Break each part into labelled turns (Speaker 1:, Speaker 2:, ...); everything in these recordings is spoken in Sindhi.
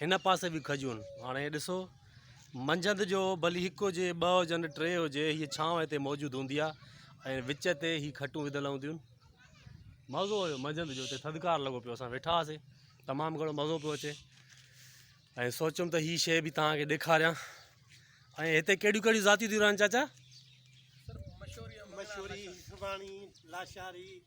Speaker 1: هن پاسي به کجيون. هاڻي ڏسو. منجهند جو ڀلي هڪ هجي، ٻه هجن، ٽي هجي، هيء ڇانو هتي موجود هوندي آ ۽ وچ تي هي کٽون وڌل هونديون. مزو هيو منجهند جو. هتي ٿڌڪار لڳو پيو. اسان ويٺا هئاسي. تمام گهڻو مزو پيو اچي ۽ سوچيم ته هي شيء به توهان کي ڏيکاريان. ۽ هتي ڪهڙيون ڪهڙيون ذاتيون ٿيون رهن چاچا؟ مشوري، هٻاڻي، لاشاري.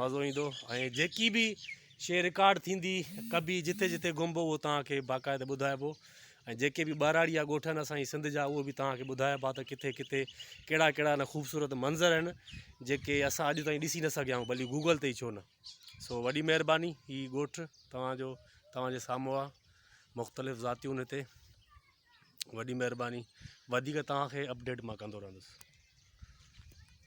Speaker 1: مزو ايندو ۽ جيڪي به شيء رڪارڊ ٿيندي ڪبي جتي جتي گهمبو اهو توهان کي باقاعده ٻڌائبو ۽ جيڪي به ٻهراڙيا ڳوٺ آهن اسان جي سنڌ جا اهو به توهان کي ٻڌائبا ته ڪٿي ڪٿي ڪهڙا ڪهڙا ان خوبصورت منظر آهن جيڪي اسان اڄ تائين ڏسي نه سگهيا آهيون بلڪ گوگل تي ئي ڇو نه سو وڏي مهرباني هي ڳوٺ توهان جو توهان جي سامهون آهي مختلف ذاتيون هتي وڏي مهرباني وڌيڪ توهان کي اپڊيٽ مان ڪندو رهندس